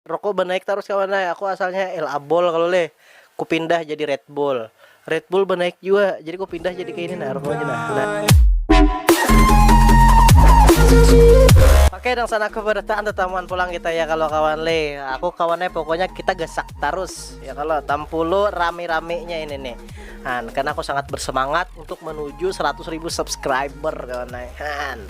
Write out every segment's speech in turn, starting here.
Rokku banaik tarus kawan ai, aku asalnya El Abol kalu leh, ku pindah jadi Red Bull, Red Bull banaik jua, jadi ku pindah jadi kaini nah rokku wahini nah. Oke nang sana kebarataan tatamuan pulang kita ya kalo kawan le, aku kawan ai pokoknya kita gasak tarus ya kalo tampulu rami-raminya ini nih, han karna aku sangat bersemangat untuk menuju seratus ribu subscriber kawan ai han.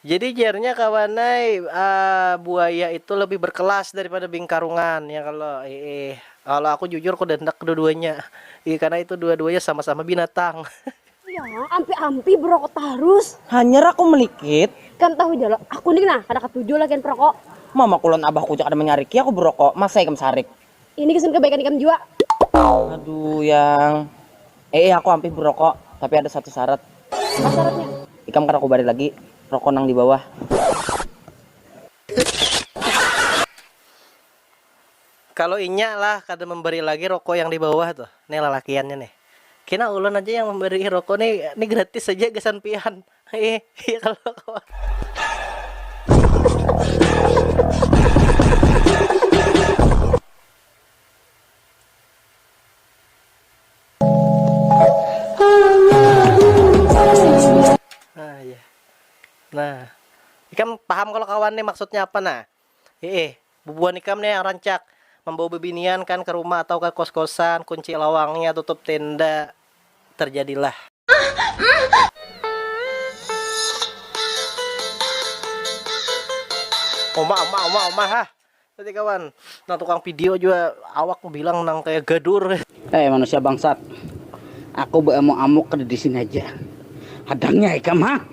Jadi jarnya kawan ai buaya itu lebih berkelas daripada bingkarungan ya kalo iih kalo aku jujur aku dah handak kedua-duanya iih karna itu dua-duanya sama-sama binatang. Yaa ampi-ampi berokok tarus. Hanyar aku melikit. Ikam tahu ja lo, aku ni nah kada katuju lakian perokok. Mamaku lawan abahku ja kada manyariki aku berokok, masa ikam sarik. Ini kesan kebaikan ikam jua. Aduh yang. Eh, eh aku hampir berokok, tapi ada satu syarat. Apa syaratnya? Ikam kada kubari lagi rokok nang di bawah. Kalau inya lah kada memberi lagi rokok yang di bawah tuh, nih lalakiannya nih. Kina ulun aja yang memberi rokok nih, nih gratis saja gasan pian. Iya, iya kalau kawan. Nah, iya. Nah, ikam paham kalau kawan nih maksudnya apa nah? Hiih, bubuhan ikam ne yang rancak, mambawa bibinian kan ka rumah atau ka kos-kosan, kunci lawangnya, tutup tenda, terjadilah. Uma uma uma uma hah. Jadi kawan, nang tukang video jua awak bilang nang kaya gadur. Hei manusia bangsat, aku beamuk-amuk kada disini haja, hadangnya ikam ha.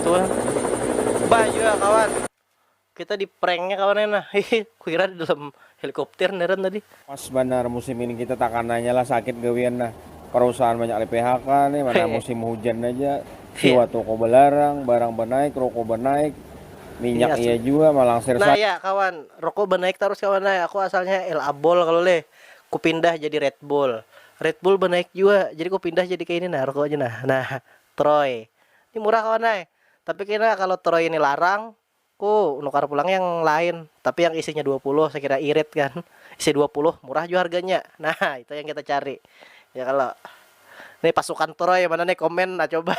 Tuh, banyu ya kawan. Kita di pranknya kawan enak. Hehe, kuira di dalam helikopter neran tadi. Pas banar musim ini kita takananya lah sakit gawian nah. Perusahaan banyak di PHK nih, mana musim hujan aja. Siwa toko belarang, barang benaik, roko benaik, minyak iya jua malangsir. Nah ya kawan, Rokok banaik tarus kawan ai, aku asalnya El Abol kalu leh, ku pindah jadi Red Bull, Red Bull banaik jua, jadi ku pindah jadi kaini nah rokoknya nah, nah Troy, ni murah kawan ai, tapi kena kalu Troy ini larang, ku nukar pulang yang lain, tapi yang isinya dua puluh sekira irit kan, isi dua puluh murah jua harganya, nah itu yang kita cari ya kalo, ni pasukan Troy mana ni komen nah coba.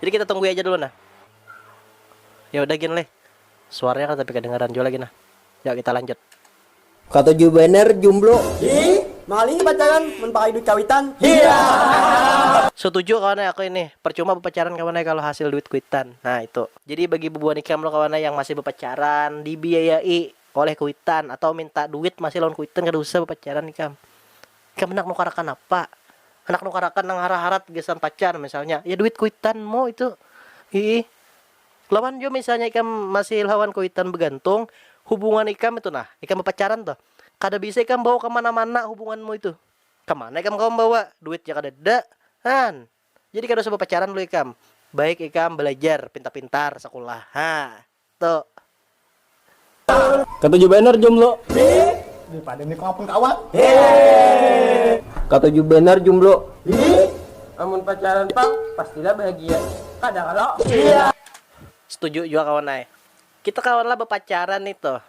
Jadi kita tunggui aja dulu nah. Ya udah gin leh. Suaranya kan tapi kadengaran jua lagi nah. Ya kita lanjut. Katuju banar jumblo. Hih. Mahal ini pacaran mun pakai duit kawitan. Hiyaa. Sutuju kawan ai aku ini. Percuma bepacaran kawan ai kalo hasil duit kuitan. Nah itu. Jadi bagi bubuhan ikam lo kawan ai yang masih bepacaran dibiayai oleh kuitan atau minta duit masih lawan kuitan kada usah bepacaran ikam. Ikam handak nukarakan apa? Handak nukarakan nang harat-harat gasan pacar misalnya. Ya duit kuitanmu itu. Hiih. Lawan jua misalnya ikam masih lawan kuitan bagantung, hubungan ikam itu nah, ikam bapacaran tuh, kada bisa ikam bawa ka mana-mana hubunganmu itu. Ka mana ikam kawa mambawa? Duit ja kadada. Haan. Jadi kada usah bapacaran dulu ikam. Baik ikam balajar pintar-pintar sakulah. Haa. Tuk. Katuju banar jomblo. Di pandemi ko apun kawan. Katuju banar jomblo. Amun pacaran pang pastilah bahagia. Kada kalo. Setuju jua kawan ai. Kita kawanlah bapacaran ni tuh.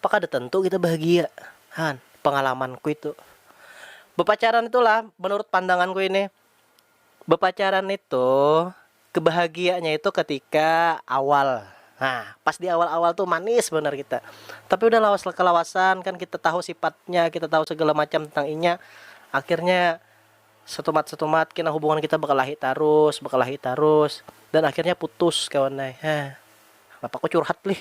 Apa kada tentu kita bahagia? Han, pengalamanku itu. Bapacaran itulah menurut pandanganku ini. Bepacaran itu kebahagianya itu ketika awal nah pas di awal awal tuh manis banar kita tapi udah lawas kelawasan kan kita tahu sifatnya kita tahu segala macam tentang inya akhirnya setumat setumat kena hubungan kita bekelahi tarus bekelahi tarus dan akhirnya putus kawan ai heh kenapa aku curhat lih.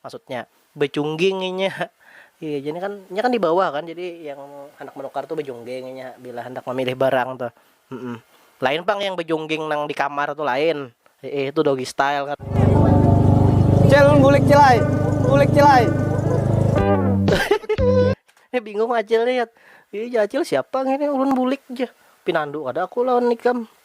Maksudnya, bajungging inya. Iya ja ni kan, inya kan di bawah kan, jadi yang handak manukar tu bajungging inya bila handak mamilih barang tuh. Lain pang yang bajungging nang di kamar tu lain. Hiih, tu doggy style ngarannya. Cil, bulik cil ai. Bulik cil ai. Nih bingung acil nih, Yat. Iya ja acil, siapa ngini ulun bulik ja. Pinandu kada aku lawan ikam.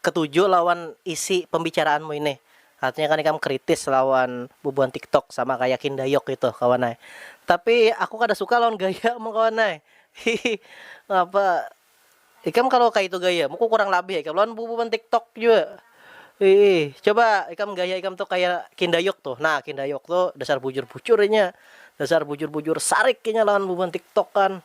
Ketuju lawan isi pembicaraanmu ini. Artinya kan ikam kritis lawan bubuhan tiktok sama kaya kindayok itu kawan ai. Tapi aku kada suka lawan gayamu kawan ai. Hihi ngapa ikam kalu kaitu gayamu ku kurang labih ikam lawan bubuhan tiktok jua. Hihi coba ikam gaya ikam tu kaya kindayok tu. Nah kindayok tu dasar bujur-bujur inya. Dasar bujur-bujur sarik inya lawan bubuhan tiktok kan.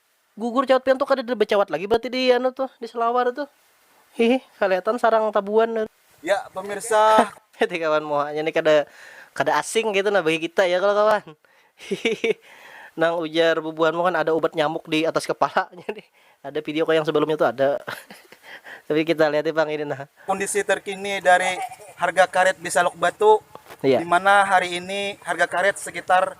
Gugur cawat pian tu kadada bacawat lagi berarti di anu tu di selawar tu hihi kaliatan sarang tabuan tu. Ya pemirsa ku. Hati kawan muhanya ni kada kada asing kaitu nah bagi kita ya kalo kawan hihihi nang ujar bubuhanmu kan ada ubat nyamuk di atas kepala nya nih ada video kah yang sebelumnya tu ada tapi kita lihat pang ini nah. Kondisi terkini dari harga karet di Saluk Batu, di mana hari ini harga karet sekitar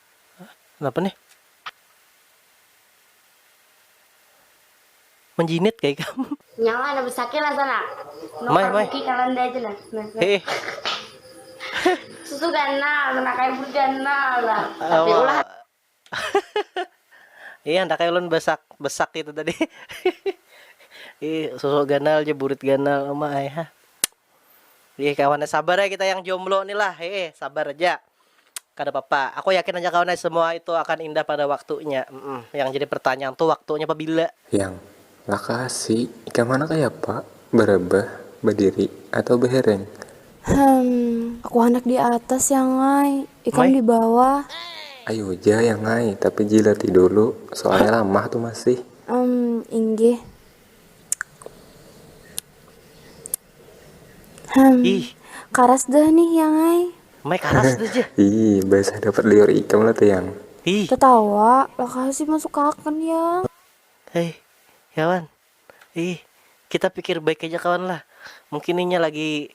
napa nih menjinit kayak kamu nyawa anak besakit lah sana mai mai kalanda aja nah eh susu ganal nah kayak berganal lah tapi ulah iya ndak kayak ulun besak besak itu tadi ih susu ganal aja burit ganal mah ai ha Wih kawan ai sabar ai kita yang jomblo ni lah hee sabar aja kada papa aku yakin aja kawan ai semua itu akan indah pada waktunya yang jadi pertanyaan tu waktunya pabila. Yang, Lakasi, ikam handak kayapa? Barebah, badiri, atau bahereng? Hem, aku handak di atas yang ai, ikam di bawah. Ayu ja yang ai, tapi jilati dulu, soalnya lamah tu masih. Em, inggih, Hmm, Ih. karas deh nih yang ai. Mai karas deh je. Ih, basah dapat liur ikam lah tuh yang. Ih. Tetawa, lakasi masuk akan yang. Hei, kawan. Ih, kita pikir baik aja kawan lah. Mungkin inya lagi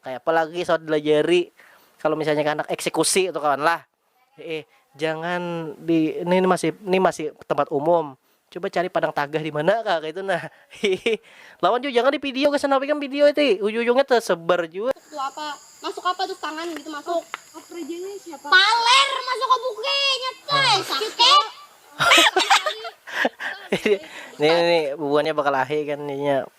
Kayapa lagi saut dilajari kalo misalnya handak eksekusi tu kawan lah. Hiih, jangan di ni ni masih ni masih tempat umum, coba cari padang tagah dimana kah kaitu nah hiih. Lawan jua jangan di video gasan napa ikam video ti ujung-ujungnya tesebar jua. Tu apa masuk apa tu tangan ngitu masuk. Paler masuk ka buki nya coy sakit. Ini ni bubuhannya bakalahi kan inya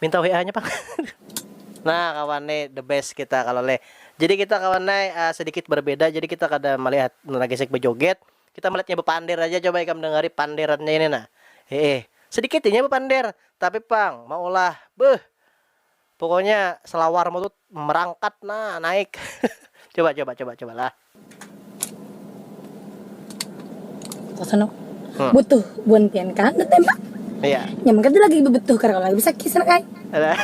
Minta WA-nya pang. Nah kawan ne the best kita kalo leh. Jadi kita kawan ai sedikit berbeda jadi kita kada malihat Nona Gesek bejoget, kita melihatnya bepander aja coba ikam dengari panderannya ini nah. Heeh. Sedikit inya bepander, tapi pang maulah beuh. Pokoknya selawarmu tu merangkat nah naik. coba coba coba cobalah. Kakanu, Hmm. butuh buan pian kan batembak. Iya. Nyaman kada lagi babutuh kada lagi basakit sanak ai. Alah.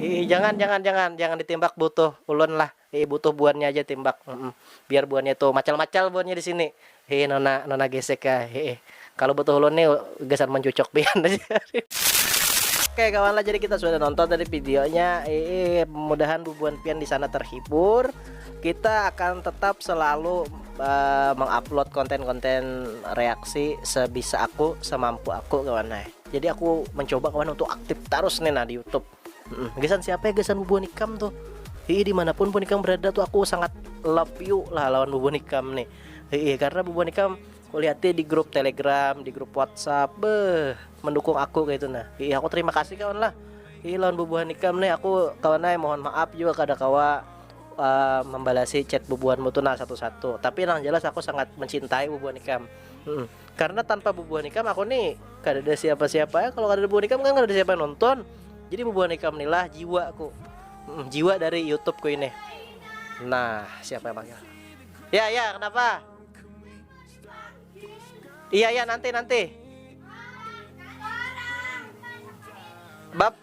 Ih, jangan jangan jangan jangan ditimbak butuh ulun lah. Ih, butuh buannya aja timbak. Mm-mm. Biar buannya tuh macal-macal buannya di sini. Hee nona nona gesek ka hee kalu butuh ulun ni gasan mancucuk pian aja. Oke kawan lah jadi kita sudah nonton tadi videonya eh mudahan bubuan pian di sana terhibur kita akan tetap selalu uh, mengupload konten-konten reaksi sebisa aku semampu aku kawan nah jadi aku mencoba kawan untuk aktif terus nih nah di YouTube Hmm, gasan siapa ya gasan bubuhan ikam tuh Hii dimanapun pun ikam berada tuh aku sangat love you lah lawan bubuhan ikam nih Hii karena bubuhan ikam kulihatnya di grup telegram di grup whatsapp beh mendukung aku kayak itu nah Hii aku terima kasih kawan lah Hii lawan bubuhan ikam nih aku kawan ay mohon maaf juga kada kawa uh, membalasi chat bubuhanmu tuh nah satu-satu tapi yang jelas aku sangat mencintai bubuhan ikam hmm. karena tanpa bubuhan ikam aku nih kada ada siapa-siapa ya kalau kada ada bubuhan ikam kan kada ada siapa nonton jadi bubuhan ikam nilah jiwa aku hmm, jiwa dari YouTube ku ini nah siapa yang panggil ya ya kenapa iya ya nanti nanti bab